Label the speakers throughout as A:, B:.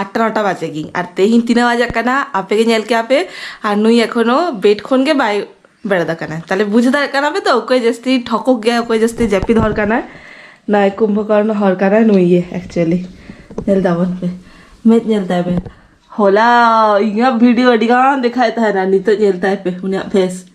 A: ᱟᱴᱴᱟ ᱱᱚᱴᱟ ᱵᱟᱡᱮ ᱜᱮ ᱟᱨ ᱛᱮᱦᱮᱧ ᱛᱤᱱᱟᱹᱜ ᱵᱟᱡᱟᱜ ᱠᱟᱱᱟ ᱟᱯᱮ ᱜᱮ ᱧᱮᱞ ᱠᱮᱜᱼᱟ ᱯᱮ ᱟᱨ ᱱᱩᱭ ᱮᱠᱷᱚᱱᱳ ᱵᱮᱰ ᱠᱷᱚᱱ ᱜᱮ ᱵᱟᱭ ᱵᱮᱨᱮᱫ ᱟᱠᱟᱱᱟ ᱛᱟᱦᱚᱞᱮ ᱵᱩᱡᱽ ᱫᱟᱲᱮᱭᱟᱜ ᱠᱟᱱᱟ ᱯᱮ ᱛᱚ ᱚᱠᱚᱭ ᱡᱟᱹᱥᱛᱤ ᱴᱷᱚᱠᱚᱠ ᱜᱮᱭᱟᱭ ᱚᱠᱚᱭ ᱡᱟᱹᱥᱛᱤ ᱡᱟᱹᱯᱤᱫ ᱦᱚᱲ ᱠᱟᱱᱟᱭ ᱱᱚᱣᱟ ᱠᱩᱢᱵᱷᱚ ᱠᱚᱨᱱᱚ ᱦᱚᱲ ᱠᱟᱱᱟᱭ ᱱᱩᱭ ᱜᱮ ᱮᱠᱪᱩᱭᱮᱞᱤ ᱧᱮᱞ ᱛᱟᱵᱚᱱ ᱯᱮ ᱢᱮᱫ ᱧᱮᱞ ᱛᱟᱭ ᱯᱮ ᱦᱚᱞᱟ ᱤᱧᱟᱹᱜ ᱵᱷᱤᱰᱤᱭᱳ ᱟᱹᱰᱤᱜᱟᱱ ᱫᱮᱠᱷᱟᱣᱮᱫ ᱛᱟᱦᱮᱱᱟ ᱱᱤᱛᱚᱜ ᱧᱮᱞ ᱛᱟᱭ ᱯᱮ ᱩᱱᱤᱭᱟᱜ ᱯᱷᱮᱥ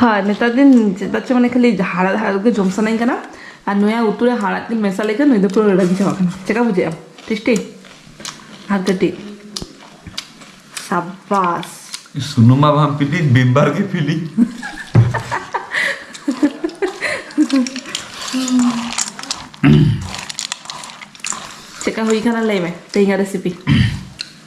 A: ᱦᱳᱭ ᱱᱮᱛᱟᱨ ᱫᱤᱱ ᱪᱮᱫᱟᱜ ᱪᱚ ᱢᱟᱱᱮ ᱠᱷᱟᱹᱞᱤ ᱦᱟᱲᱟᱫ ᱦᱟᱲᱟᱫ ᱜᱮ ᱡᱚᱢ ᱥᱟᱱᱟᱧ ᱠᱟᱱᱟ ᱟᱨ ᱱᱚᱭᱟ ᱩᱛᱩ ᱨᱮ ᱦᱟᱲᱟᱫ ᱜᱮ ᱢᱮᱥᱟ ᱞᱮᱠᱷᱟᱱ ᱱᱩᱭ ᱫᱚ ᱯᱩᱨᱟᱹ ᱨᱟᱹᱲᱟᱹ ᱜᱮ ᱪᱟᱵᱟᱜ ᱠᱟᱱᱟ ᱪᱮᱠᱟ ᱵᱩᱡᱷᱟᱹᱜᱼᱟ ᱴᱮᱥᱴᱤ ᱟᱨ ᱠᱟᱹᱴᱤᱡ ᱥᱟᱵᱟᱥ ᱥᱩᱱᱩᱢᱟ
B: ᱵᱟᱝ ᱯᱤᱞᱤ ᱵᱤᱢᱵᱟᱨ ᱜᱮ ᱯᱤᱞᱤ
A: ᱪᱮᱠᱟ ᱦᱩᱭ ᱠᱟᱱᱟ ᱞᱟᱹᱭ ᱢᱮ ᱛᱮᱦᱮᱧᱟᱜ ᱨᱮᱥᱤᱯᱤ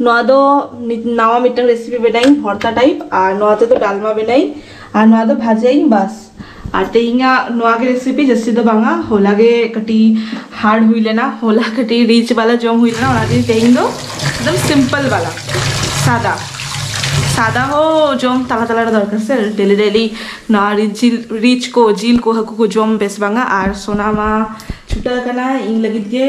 A: ᱱᱚᱣᱟ ᱫᱚ ᱱᱟᱣᱟ ᱢᱤᱫᱴᱟᱝ ᱨᱮᱥᱤᱯᱤ ᱵᱮᱱᱟᱭᱤᱧ ᱵᱷᱚᱨᱛᱟ ᱴᱟᱭᱤᱯ ᱟᱨ ᱱᱚᱣᱟ ᱛᱮᱫᱚ ᱰᱟᱞᱢᱟ ᱵᱮᱱᱟᱭᱤᱧ ᱟᱨ ᱱᱚᱣᱟ ᱫᱚ ᱵᱷᱟᱡᱟᱭᱤᱧ ᱵᱟᱥ ᱟᱨ ᱛᱮᱦᱮᱧᱟᱜ ᱱᱚᱣᱟ ᱜᱮ ᱨᱮᱥᱤᱯᱤ ᱡᱟᱹᱥᱛᱤ ᱫᱚ ᱵᱟᱝᱟ ᱦᱚᱞᱟ ᱜᱮ ᱠᱟᱹᱴᱤᱡ ᱦᱟᱨᱰ ᱦᱩᱭ ᱞᱮᱱᱟ ᱦᱚᱞᱟ ᱠᱟᱹᱴᱤᱡ ᱨᱤᱪ ᱵᱟᱞᱟ ᱡᱚᱢ ᱦᱩᱭ ᱞᱮᱱᱟ ᱚᱱᱟ ᱛᱮᱜᱮ ᱛᱮᱦᱮᱧ ᱫᱚ ᱮᱠᱫᱚᱢ ᱥᱤᱢᱯᱚᱞ ᱵᱟᱞᱟ ᱥᱟᱫᱟ ᱥᱟᱫᱟ ᱦᱚᱸ ᱡᱚᱢ ᱛᱟᱞᱟ ᱛᱟᱞᱟ ᱨᱮ ᱫᱚᱨᱠᱟᱨ ᱥᱮ ᱰᱮᱞᱤ ᱰᱮᱞᱤ ᱱᱚᱣᱟ ᱨᱤᱪ ᱡᱤᱞ ᱨᱤᱪ ᱠᱚ ᱡᱤᱞ ᱠᱚ ᱦᱟᱹᱠᱩ ᱠᱚ ᱡᱚᱢ ᱵᱮᱥ ᱵᱟᱝᱟ ᱟᱨ ᱥᱳᱱᱟ ᱢᱟ ᱪᱷᱩᱴᱟᱹᱣ ᱟᱠᱟᱱᱟ ᱤᱧ ᱞᱟᱹᱜᱤᱫ ᱜᱮ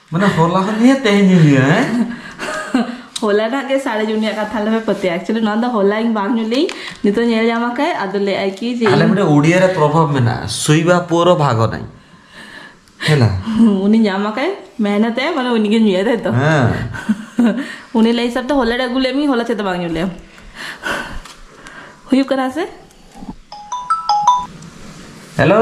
B: ᱢᱟᱱᱮ ᱦᱚᱞᱟ ᱦᱚᱸ ᱧᱩᱭᱟ ᱛᱮᱦᱮᱧ ᱦᱚᱸ ᱧᱩᱭᱟ ᱦᱮᱸ
A: ᱦᱚᱞᱟ ᱱᱟᱜ ᱜᱮ ᱥᱟᱲᱮ ᱡᱩᱱᱤ ᱟᱜ ᱠᱟᱛᱷᱟ ᱞᱮ ᱯᱟᱹᱛᱮ ᱮᱠᱪᱩᱭᱟᱞᱤ ᱱᱚᱣᱟ ᱫᱚ ᱦᱚᱞᱟ ᱤᱧ ᱵᱟᱝ ᱧᱩ ᱞᱮ ᱱᱤᱛᱚᱜ ᱧᱮᱞ ᱧᱟᱢ ᱟᱠᱟᱭ ᱟᱫᱚ ᱞᱟᱹᱭ ᱟᱭ ᱠᱤ ᱡᱮ ᱟᱞᱮ ᱢᱤᱫᱴᱮᱱ ᱩᱰᱤᱭᱟ ᱨᱮ ᱯᱨᱚᱵᱷᱟᱵ
B: ᱢᱮᱱᱟᱜᱼᱟ ᱥᱩᱭᱵᱟ ᱯᱩᱨᱚ ᱵᱷᱟᱜᱚ ᱱᱟᱭ ᱦᱮᱞᱟ ᱩᱱᱤ ᱧᱟᱢ
A: ᱟᱠᱟᱭ ᱢᱮᱦᱱᱚᱛ ᱮ ᱢᱟᱱᱮ ᱩᱱᱤ ᱜᱮ ᱧᱩᱭᱟ ᱛᱟᱭ ᱛᱚ
B: ᱦᱮᱸ
A: ᱩᱱᱤ ᱞᱟᱹᱭ ᱦᱤᱥᱟᱹᱵ ᱛᱮ ᱦᱚᱞᱟ ᱨᱮ ᱟᱹᱜᱩ ᱞᱮ ᱢᱤ ᱦᱚᱞᱟ ᱪᱮᱫ ᱵᱟᱝ ᱧᱩ ᱞᱮ ᱦᱩᱭᱩᱜ ᱠᱟᱱᱟ ᱥᱮ
B: ᱦᱮᱞᱳ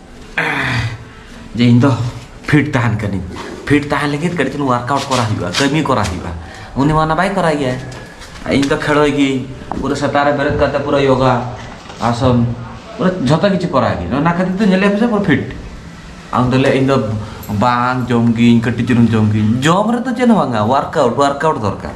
B: ᱡᱮ ᱤᱧ ᱫᱚ ᱯᱷᱤᱴ ᱛᱟᱦᱮᱱ ᱠᱟᱹᱱᱟᱹᱧ ᱯᱷᱤᱴ ᱛᱟᱦᱮᱱ ᱞᱟᱹᱜᱤᱫ ᱠᱟᱹᱴᱤᱡ ᱪᱩᱞᱩᱝ ᱣᱟᱨᱠᱟᱣᱩᱴ ᱠᱚᱨᱟᱣ ᱦᱩᱭᱩᱜᱼᱟ ᱠᱟᱹᱢᱤ ᱠᱚᱨᱟᱣ ᱦᱩᱭᱩᱜᱼᱟ ᱩᱱᱤ ᱢᱟ ᱚᱱᱟ ᱵᱟᱭ ᱠᱚᱨᱟᱣ ᱜᱮᱭᱟ ᱤᱧ ᱫᱚ ᱠᱷᱮᱲᱚᱭ ᱜᱤᱭᱟᱹᱧ ᱯᱩᱨᱟᱹ ᱥᱮᱛᱟᱜ ᱨᱮ ᱵᱮᱨᱮᱫ ᱠᱟᱛᱮ ᱯᱩᱨᱟᱹ ᱭᱳᱜᱟ ᱟᱥᱚᱱ ᱯᱩᱨᱟᱹ ᱡᱷᱚᱛᱚ ᱠᱤᱪᱷᱩ ᱠᱚᱨᱟᱣ ᱜᱤᱭᱟᱹᱧ ᱚᱱᱟ ᱠᱷᱟᱹᱛᱤᱨ ᱛᱮ ᱧᱮᱞᱮ ᱯᱮᱥᱮ ᱯᱩᱨᱟᱹ ᱯᱷᱤᱴ ᱟᱢ ᱫᱚ ᱞᱟᱹᱭ ᱤᱧ ᱫᱚ ᱵᱟᱝ ᱡᱚᱢ ᱜᱤᱭᱟᱹᱧ ᱠᱟᱹᱴᱤᱡ ᱪᱩᱞᱩᱝ ᱡᱚᱢ ᱜᱤᱭᱟᱹᱧ ᱡᱚᱢ ᱨᱮᱫᱚ ᱪᱮᱫ ᱦᱚᱸ ᱵᱟᱝᱟ ᱣᱟᱨᱠᱟᱣᱩᱴ ᱣᱟᱨᱠᱟᱣᱩᱴ ᱫᱚᱨᱠᱟᱨ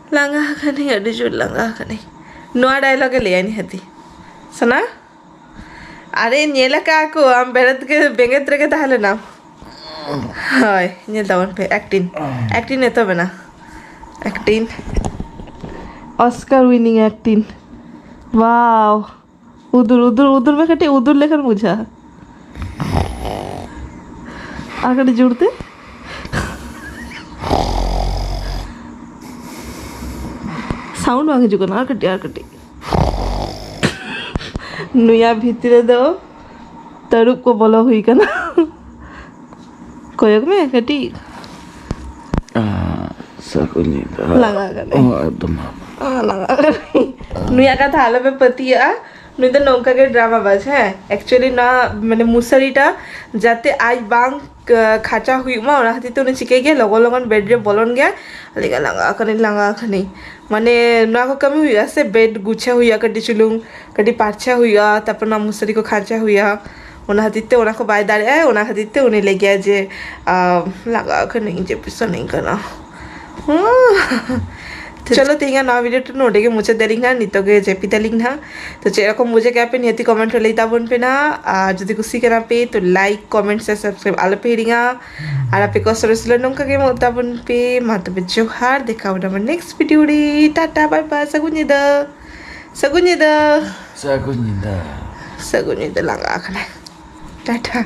A: ᱞᱟᱸᱜᱟ ᱟᱠᱟᱱᱟᱹᱧ ᱟᱹᱰᱤ ᱡᱳᱨ ᱞᱟᱸᱜᱟ ᱟᱠᱟᱱᱟᱹᱧ ᱱᱚᱣᱟ ᱰᱟᱭᱞᱚᱜ ᱮ ᱞᱟᱹᱭᱟ ᱱᱤᱦᱟᱹᱛᱤ ᱥᱚᱱᱟ ᱟᱨᱮ ᱧᱮᱞ ᱟᱠᱟᱫ ᱠᱚ ᱟᱢ ᱵᱮᱨᱮᱫ ᱜᱮ ᱵᱮᱸᱜᱮᱫ ᱨᱮᱜᱮ ᱛᱟᱦᱮᱸ ᱞᱮᱱᱟᱢ ᱦᱳᱭ ᱧᱮᱞ ᱛᱟᱵᱚᱱ ᱯᱮ ᱮᱠᱴᱤᱝ ᱮᱠᱴᱤᱝ ᱮᱛᱚᱦᱚᱵ ᱮᱱᱟ ᱮᱠᱴᱤᱝ ᱚᱥᱠᱟᱨ ᱩᱭᱱᱤᱝ ᱮᱠᱴᱤᱝ ᱳᱣᱟᱣ ᱩᱫᱩᱨ ᱩᱫᱩᱨ ᱩᱫᱩᱨ ᱢᱮ ᱠᱟᱹᱴᱤᱡ ᱩᱫᱩᱨ ᱞᱮᱠᱷᱟᱱ ᱵᱩᱡᱷᱟᱹᱜᱼᱟ ᱟᱨ ᱠᱟᱹᱴᱤᱡ ᱡᱳᱨ ᱛᱮ ᱥᱟᱣᱩᱱᱰ ᱵᱟᱝ ᱦᱤᱡᱩᱜ ᱠᱟᱱᱟ ᱟᱨ ᱠᱟᱹᱴᱤᱡ ᱟᱨ ᱠᱟᱹᱴᱤᱡ ᱱᱩᱭᱟ ᱵᱷᱤᱛᱨᱤ ᱨᱮᱫᱚ ᱛᱟᱹᱨᱩᱵ ᱠᱚ ᱵᱚᱞᱚ ᱦᱩᱭ ᱠᱟᱱᱟ ᱠᱚᱭᱚᱜ ᱢᱮ ᱠᱟᱹᱴᱤᱡ
B: ᱞᱟᱸᱜᱟ
A: ᱱᱩᱭᱟᱜ ᱠᱟᱛᱷᱟ ᱟᱞᱮ ᱯᱮ ᱯᱟᱹᱛᱭᱟᱹᱜᱼᱟ ᱱᱩᱭ ᱫᱚ ᱱᱚᱝᱠᱟ ᱜᱮ ᱰᱨᱟᱢᱟ ᱵᱟᱡᱽ ᱦᱮᱸ ᱮᱠᱪᱩᱭᱮᱞᱤ ᱱᱚᱣᱟ ᱢᱟᱱᱮ ᱢᱩᱥᱟᱨᱤᱴᱟ ᱡᱟᱛᱮ ᱟᱡ ᱵᱟᱝ ᱠᱷᱟᱪᱟ ᱦᱩᱭᱩᱜ ᱢᱟ ᱚᱱᱟ ᱠᱷᱟᱹᱛᱤᱨ ᱛᱮ ᱩᱱᱤ ᱪᱤᱠᱟᱹᱭ ᱜᱮᱭᱟ ᱞᱚᱜᱚᱱ ᱞᱚᱜᱚᱱ ᱵᱮᱰ ᱨᱮ ᱵᱚᱞᱚᱱ ᱜᱮᱭᱟ ᱞᱟᱹᱭᱟ ᱞᱟᱸᱜᱟ ᱟᱠᱟᱱᱟᱹᱧ ᱞᱟᱸᱜᱟ ᱟᱠᱟᱱᱟᱹᱧ ᱢᱟᱱᱮ ᱱᱚᱣᱟ ᱠᱚ ᱠᱟᱹᱢᱤ ᱦᱩᱭᱩᱜᱼᱟ ᱥᱮ ᱵᱮᱰ ᱜᱩᱪᱷᱟᱹᱣ ᱦᱩᱭᱩᱜᱼᱟ ᱠᱟᱹᱴᱤᱡ ᱪᱩᱞᱩᱝ ᱠᱟᱹᱴᱤᱡ ᱯᱟᱨᱪᱷᱟ ᱦᱩᱭᱩᱜᱼᱟ ᱛᱟᱨᱯᱚᱨ ᱱᱚᱣᱟ ᱢᱩᱥᱟᱨᱤ ᱠᱚ ᱠᱷᱟᱧᱪᱟ ᱦᱩᱭᱩᱜᱼᱟ ᱚᱱᱟ ᱠᱷᱟᱹᱛᱤᱨ ᱛᱮ ᱚᱱᱟ ᱠᱚ ᱵᱟᱭ ᱫᱟᱲᱮᱭᱟᱜᱼᱟᱭ ᱚᱱᱟ ᱠᱷᱟᱹᱛᱤᱨ ᱛᱮ ᱩᱱᱤ ᱞᱟᱹᱭ ᱜᱮᱭᱟᱭ ᱡᱮ ᱞᱟᱸᱜᱟ ᱠᱟᱹᱱᱟᱹᱧ ᱡᱟᱹᱯᱤᱫ ᱥᱟᱱᱟᱹᱧ ᱠᱟᱱᱟ ᱪᱚᱞᱚ ᱛᱮᱦᱮᱧᱟᱜ ᱱᱚᱣᱟ ᱵᱷᱤᱰᱤᱭᱳ ᱴᱟ ᱱᱚᱰᱮ ᱜᱮ ᱢᱩᱪᱟᱹᱫ ᱫᱟᱞᱤᱧ ᱦᱟᱸᱜ ᱱᱤᱛᱚᱜ ᱜᱮ ᱡᱟᱹᱯᱤᱫ ᱟᱞᱤᱧ ᱦᱟᱸᱜ ᱛᱚ ᱪᱮᱫ ᱨᱚᱠᱚᱢ ᱵᱩᱡᱷᱟᱹᱣ ᱠᱮᱜᱼᱟ ᱯᱮ ᱱᱤᱦᱟᱹᱛᱤ ᱠᱚᱢᱮᱱᱴ ᱨᱮ ᱞᱟᱹᱭ ᱛᱟᱵᱚᱱ ᱯᱮ ᱱᱟᱦᱟᱜ ᱟᱨ ᱡᱩᱫᱤ ᱠᱩᱥᱤ ᱠᱟᱱᱟ ᱯᱮ ᱛᱚ ᱞᱟᱭᱤᱠ ᱠᱚᱢᱮᱱᱴ ᱥᱮ ᱥᱟᱵᱥᱠᱨᱟᱭᱤᱵ ᱟᱞᱚ ᱯᱮ ᱦᱤᱲᱤᱧᱟ ᱟᱨ ᱟᱯᱮ ᱠᱚ ᱥᱚᱨᱮᱥ ᱞᱮ ᱱᱚᱝᱠᱟ ᱜᱮ ᱮᱢᱚᱜ ᱛᱟᱵᱚᱱ ᱯᱮ ᱢᱟ ᱛᱚᱵᱮ ᱡᱚᱦᱟᱨ ᱫᱮᱠᱷᱟᱣ ᱵᱚᱱᱟ ᱱᱮᱠᱥᱴ ᱵᱷᱤᱰᱤᱭᱳ ᱨᱮ ᱴᱟᱴᱟ ᱵᱟᱭ ᱵᱟᱭ ᱥᱟᱹᱜᱩᱱ ᱧᱤᱫᱟᱹ ᱥᱟᱹᱜᱩᱱ ᱧᱤᱫᱟᱹ ᱥᱟᱹᱜᱩᱱ ᱧᱤᱫᱟᱹ ᱥᱟᱹᱜᱩᱱ ᱧᱤᱫᱟᱹ ᱞᱟᱸᱜᱟ ᱟᱠᱟᱱᱟᱭ ᱴᱟᱴᱟ